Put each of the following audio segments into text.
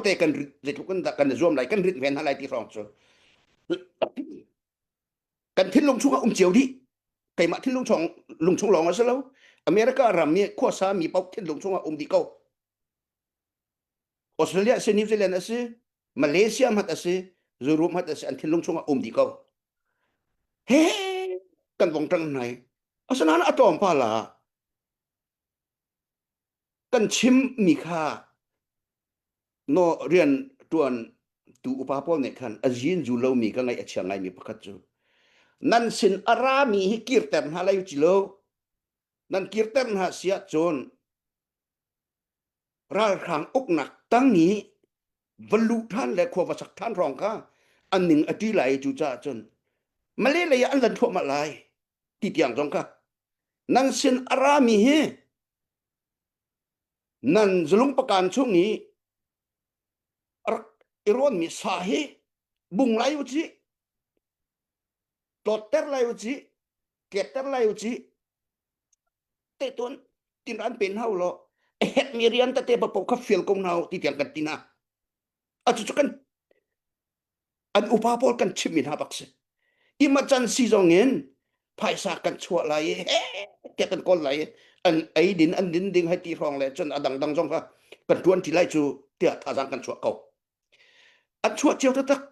te kan rit tluk kan kan zuam lai kan rit ven hna lai ti hrong cu kan thinlung chung a um cio dih keimah thinlung chung lung chung lawng a si lo america ram nih khuasa mi pau thinlung chung a um dih ko australia si new zealand a si malaysia mat a si zurum mat a si an thinlung chung a um dih ko he kan vong tang nai asana atom pala kan chimmi kha no rian ṭuan tu upa pawl nih khan a zin zu lomi ka ngaih a chia ngaimi pakhat cu nan sin a rami hi kirter hna lai ci lo nan kirter hna si ahcun ralhrang uknak tang i va luh ṭhan le khua va sak ṭhan hrawng kha an ning a ṭi lai cu caah cun male lei ah an lan thluahmah lai ti tiang zong kha nang sin a rami hi nan zulung pakan chung i rak i rawnmi sa hi bung lai u ci tlawtter lai u ci ketter lai u ci te ton tin an pen hau lo ek mi rian ta te pa po kha feel ko na ti tiang kan tina a chu kan an upa pawl kan chim min ha bak se imachan si zong in phaisa kan chuah lai he ke kan kol lai an ai din an din ding hai ti hrong le chun adang dang zong kha kan tuan ti lai chu tia thazang kan chuah ko An chuah cio taktak.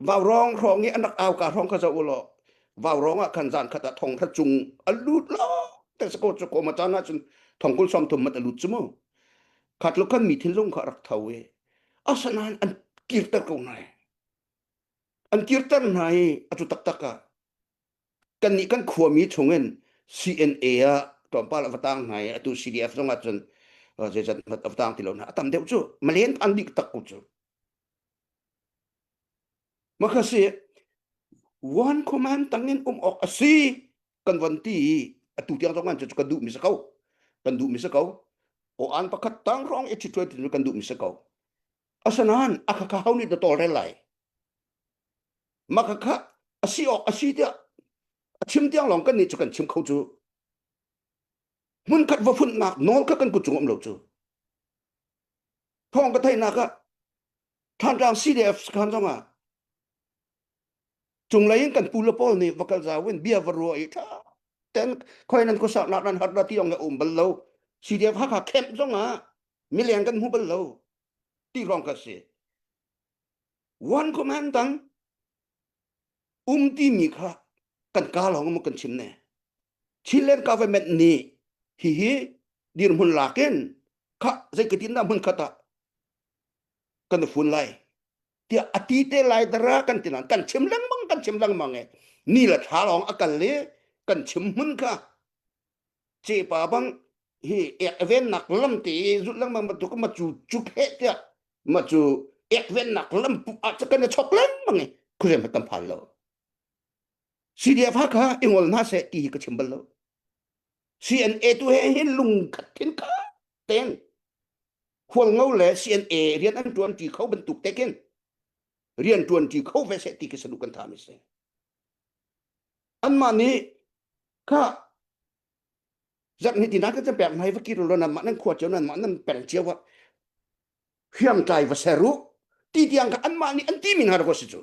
Vaurong hrawng i an rak auka hrawng kha zoh u law vaurong ah khan zan khat ah thong thla chung a lut lawng te sako sako ma chan ahcun thong kul som thum mat a lut cu mu khat luk khan mi thinlung kha rak tho i asanain an kirter ko nai an kirter hna i a tu taktak ah kan nih kan khuami chungin CNA ah tlawmpal a tang hna i atu CDF zong ahcun zeizat mat a tang ti lo hna a tam deuh cu malen an dik tak ku cu maka si wan command tangin um ok asi kan van ti atu tiang zong an cu kan duh mi sa ko kan duh mi sa ko o an pakhat tang rong i chitwe tin kan duh mi sa ko asanan akhakau ni da tol rel lai mah kha kha asi awk asi tiah a chim tiang lawng kan nih cu kan chim kho cu hmun khat va nak nawl kha kan ku cung lo cu thawng ka theihnak ah thanrang CDF khan zong ah cung lei in kan pu le pawl nih va kal za win bia va ruwa i tha ten khoi nan ku sak nak nan har na ti ong um bal lo CDF ha kha camp zong ah mileng kan mu bal lo ti rong ka si one comment tang um timi kha kan ka lawng mo kan chim ne Chilean government ni hi hi dirhmun lakin kha zeikatin da mun khata kan fun lai tia ati te lai dara kan tinan kan chim lang mang kan chim lang mang e ni la tha long akal le kan chim mun kha cepa bang hi ek vennak lam te zut lang ma tu ma chu chu phe tia ma chu ek vennak lam pu a cha kan chok lang mang ku re ma tam phal lo CDF ha ka ingol na se ti ka chimbal lo CNA tu he hin lung khat thin ka ten khual ngau le CNA rian an tuan ti kho bantuk te kin rian tuan ti kho ve se ti ke sanu kan tha mi se an ma ni ka zak ni tinan ka pek mai va kiro lon ma nan khua cheu nan ma nan peng cheu wa hiang tlai va seru ti tiang ka anma ni an ti min har ko si chu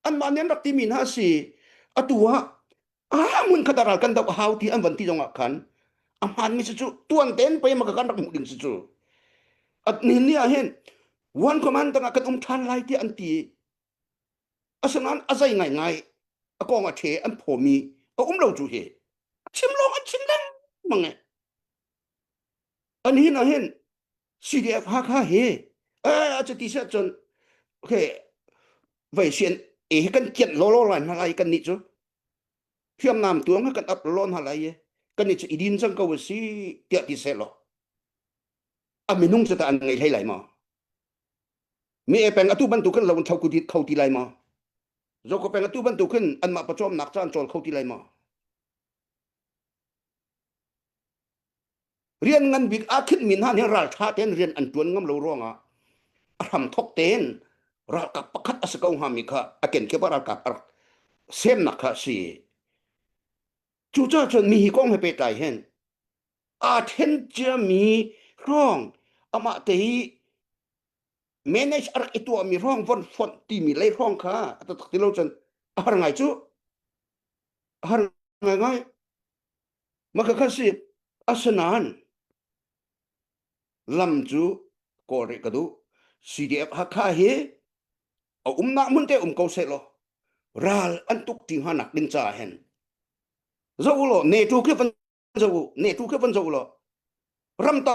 anma ni an rak ti min ha si atua a mun khadaral kan dau hau ti an van ti zongah khan aman mi chu tuan ten pe ma kan rak mu ding si chu at ni ni a hen one command tanga kan um than lai ti an ti Asinain a zei ngaingai a kong a ṭhe an phawmi a um lo cu hi a chim lawng an chim lengmang e. An hin ah hin CDF Hakha hi eh a cati si ahcun okay veisien e hi kan kianh lawlaw lai hna lai kannih cu hriamnam tuang hi kan ap lawlaw hna lai i kannih cu i din cang ko si tiah ti seh law a minung cu tah an ngei hlei lai maw? mi e peng atu bantuk khin lo thau kho ti lai ma zoko peng atu bantuk khin anmah pawcawm nak caan col kho ti lai ma rian ngan bik a khin min han hin ral tha ten rian an tuan ngam lo ruanga a hram thok ten ralkap pakhat asa ko ha mi kha aken ke ba ralkap ar sem nak kha si chu cha chon mi hi kong he pe tai hen a then chia mi rong ama te hi manage a rak i tuahmi ruang von fonh timi lei ruang kha a tatak ti lo cun a har ngai cu a har ngai ngai maka kha si asinain lam cu kawl rih ka duh CDF Hakha hi a umnak mun te um ko se lo ral an tuk ti hna nak ding ca hen zo lo ne tu khi van zo ne tu khi van zo lo ram ta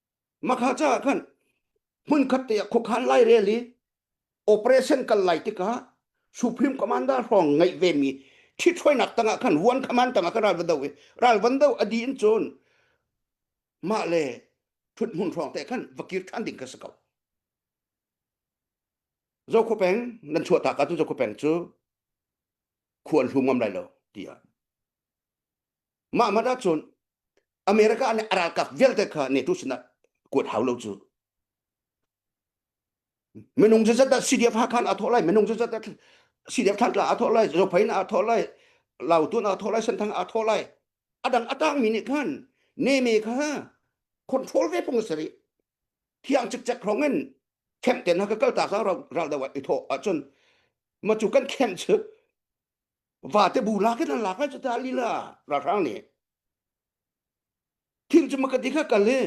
makha ca khan hmunkhat te khuakhan lai rel i operation kal lai tika supreme commander hrong ngai ve mi thi thoinak tangah khan huan khaman tangah kan ral van do i ral van do adi in chon ma le thut mun hrong te khan vakir than ding ka sakau zo kho peng nan chua ta ka tu zo kho peng chu khuan hlum ngam lai lo tia mah mat ahcun America nih a ralkap vialte kha NATO sinah kuat hau lo cu minung zazat CDF ha khan a thawh lai minung zazat CDF thantla a thawh lai zopain a thawh lai lautun a thawh lai santhang a thawh lai adang atangmi nih khan neme kha control ve pung sari thiang cik cek hrong in camp ten ha ka kal ta sa ral da wat i tho ahcun ma chu kan camp chu vate bu lak in lak ai ta lila ralhrang nih thing cuma ka dikha kal hi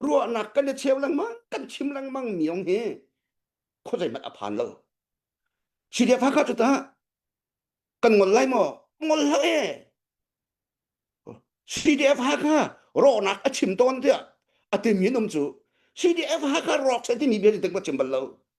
ruahnak kan ne cheu lang mang kan chim lang mang miong hi khozai mat aphan lo chi dia pha ka tu ta kan ngol lai mo ngol la e CDF ha ka ronak a chim ton tia atim yin um chu CDF ha ka rok se ti ni be ding ba chim bal lo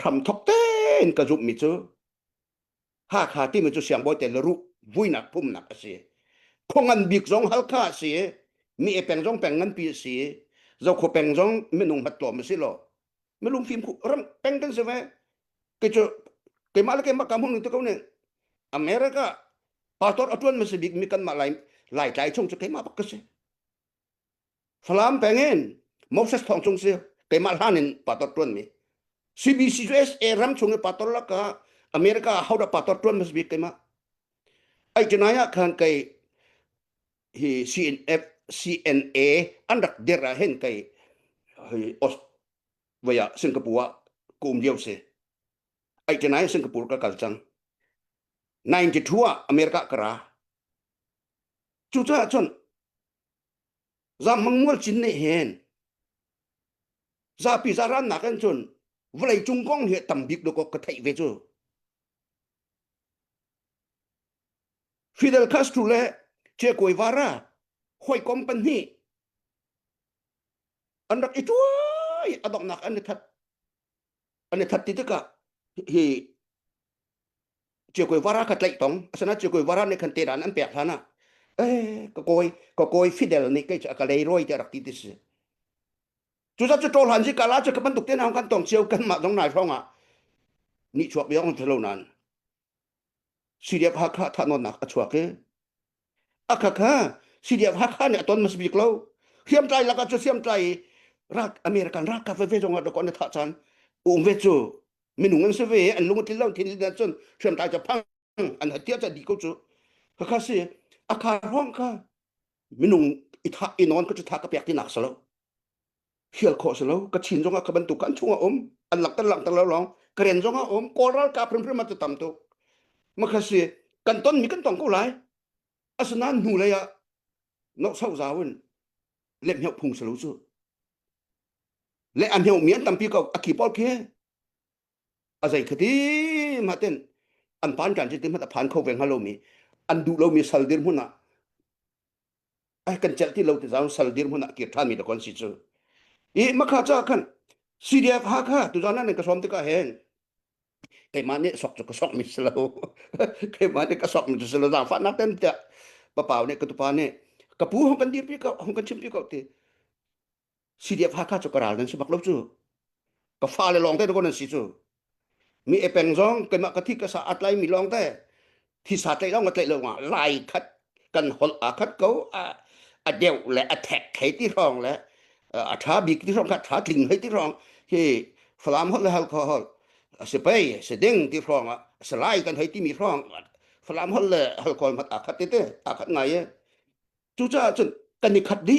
hramthok tein ka zumhmi cu Hakha timi cu siangbawi tel ruh vuinak phumnak a si. Khongan bik zong Halkha a si i mi e peng zong peng nganpi a si i Zokhaw peng zong minung hmatlawm a si lo. Mi lungfim khu ram peng kan si ve. Ke cu keimah le keimah kam hung tu ko ne America pastor atuan ma si bik mi kan mah lai lai tlai chung cu keimah bak ka si. Falam peng in Moses thong chung si keimah hlan in pator tuan mi CBC cu SA ram chung i pator la ka America how da pator tuan mas bik keimah ai tinai ah khan kai hi CNF CNA an rak der ah hen kai hi Aus vaya Singapore kum diu si ai tinai Singapore ka kal cang 92 ah America kara Cucaah cun zammang mual cin ne hen zapi zarannak in cun vawlei cung kong hi tam bik lu ka theih ve cu Fidel Castro le Che Guevara hawikom pahnih an rak i tuai adoknak an i that an i khat ti tikah hi chiokoi vara kha tlaih tong asana chiokoi vara nih khan te dan an pek hlan ah eh ka koi ka koi fidel nih kei a ka lei roi te rak ti ti si cu za cu ṭol han si kala cu ka bantuk te na kan tong cio kan mah dong nai hrong ah ni chuak biang lo nan CDF Hakha thahnawnnak a chuak i a khakha CDF Hakha nih a ton hmas bik lo hriamtlai lakah cu hriamtlai i rak American ralkap veve zong ah rak an thah chan um ve cu minung an si ve an lung tlin lo thin din cun hriamtlai cu phang an hatia ca di ko cu khakha si a khar hrawng kha minung i thah i non ka cu thah ka pek tinak sa lo hial khawh si lo ka chin zongah ka bantuk kan chungah um an lang tan lang tan lo long karen zongah um kawl ralkap primrim atu tam tuk makhasi kan ton mi kan tong ko lai asnan hnu lei ah nok sau zawin le mheu phung salo chu le an heu mian tampi ko aki pol khi azai khati ma ten an pan kan chi ti ma ta phan kho ve ngalo mi an du lo mi sal dir huna ai kan celh ti lo ti zau sal dir hmun ah kir than mi da kon si chu i makha cha khan sidia kha kha tu zan nan ka som te ka hen keima ne sok chu ka sok mi selo keima ne ka sok mi chu selo za fa na ten ta pa pau ne ka tu pa ne ka pu hong kan dir pi ka hong kan chim pi ko ti CDF Hakha cu ka ral nan si bak lo cu ka fa le lawng te ko nan si cu mi epeng zong keimah ka thi ka sa atlai mi lawng te thisa tlaih lo nga tlaih lo nga lai khat kan hol a khat ko a a deu le a thek thei ti rong le a tha bik ti rong kha tha tling hei ti rong hi falam hol le hal kho hol se pei se ding ti rong a se lai kan hei ti mi rong falam hol le hal kol mat a khat te te a khat ngai e cu ca cun kan ni khat di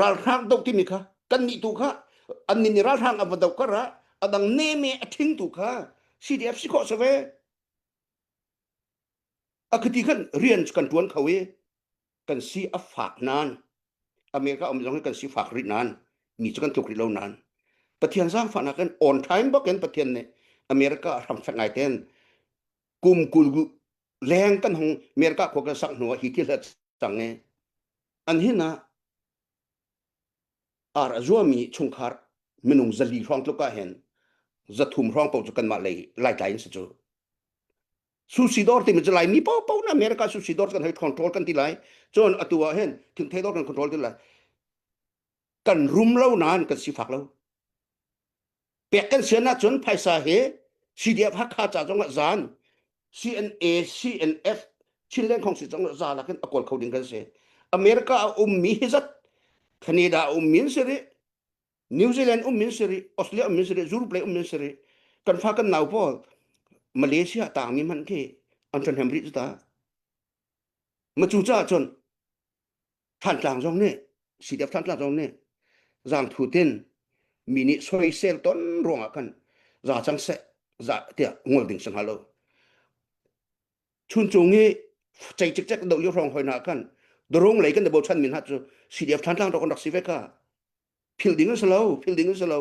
ralhrang do timi kha kannih tu kha annin i ralhrang a va do kar ah adang neme a thing tu kha CDF si khawh save akhati khan rian kan tuan kho i kan si a fak nan america om zong kan si fak ri nan mi chu kan tuk ri lo nan pathian sang fa na kan on time boken pathian ne america ram sang ngai ten kum kul leng kan hong america kho kan sak hnuwa hi ti hlat sang e an hin ah ar a zuami chungkhar minung zali hrawng tluk ah hin zathum hrawng po cu kanmah lei laitlai in si cu susidor timi cu laimi popo in america susidor kan hei control kan ti lai cun atu ah hin thingthei dor kan control ti lai kan rum lo nain kan si fak lo pek kan sian ahcun phaisa hi CDF Hakha ca zong ah zan CNA CNF Chin Lengkhong si zong ah za lakin a kawl kho ding kan si America a ummi hi zat Canada a ummi si rih New Zealand ummin si rih Australia ummin si rih Europe lei ummin si rih kan fa kan nau pawl Malaysia tangmi man khi an than hemri ta ma cu ca cun Thantlang zong nih CDF Thantlang zong nih zangthu tin mi nih soisel ton ruangah khan za cang seh za tiah ngol ding si hnga lo. Chuncung i cei cikcek do yo hrong hoi na khan durung lei kan de bochan min hat cu CDF Thantlang rak kan rak si ve ka philh ding si lo philh ding si lo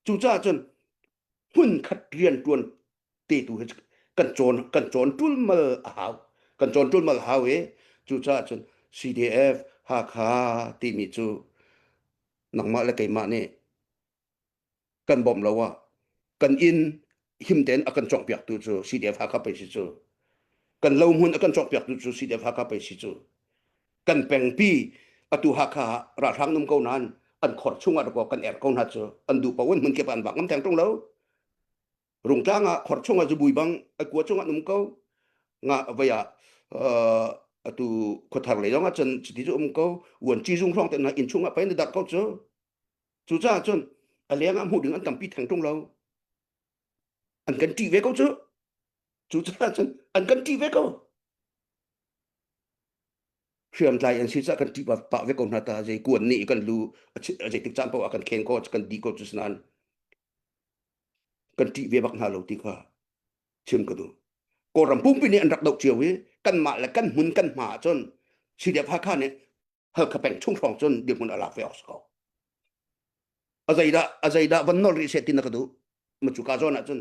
cucaah cun hmun khat rian tuan te tu hi kan cawn kan cawn tulmal a hau kan cawn tulmal hau i cucaah cun CDF Hakha timi cu nangmah le keimah nih kan bawmh lo ah kan inn him tein a kan cawkpiaktu cu CDF Hakha pei si cu kan lohmun a kan cawkpiaktu cu CDF Hakha pei si cu kan pengpi atu Hakha ah ralhrang num ko nain an khor chung ah rako kan er ko hna cu an duh paoh in hmun kip an bak ngam theng tung lo rungtlang ah khor chung ah zubui bang a kua chung ah num ko nga vai ah atu khothar lei zong ah cun cuti cu um ko uan ci zung hrawng te hna inn chung ah pain a darh ko cu Cucaah cun a leng ah hmuh ding an tampi theng ṭung lo. An kan ṭih ve ko cu. Cucaah cun an kan ṭih ve ko. Hriamtlai an si cah kan ṭih pah ve ko hna ta. Zei ku an nih kan lu, zeitik caan paoh ah kan khen ko, kan di ko cu sinain kan ṭih ve bak hna lo ti kha chim ka duh. Kawlram pumpi nih an rak doh cio i kanmah le kan hmun kan hma ahcun Sihriah Hakha nih Halkha peng chung hrawng cun dirhmun a lak ve awk si ko. A zeidah a zeidah van nol rih seh ti na ka duh. Ma cu ka zawn ahcun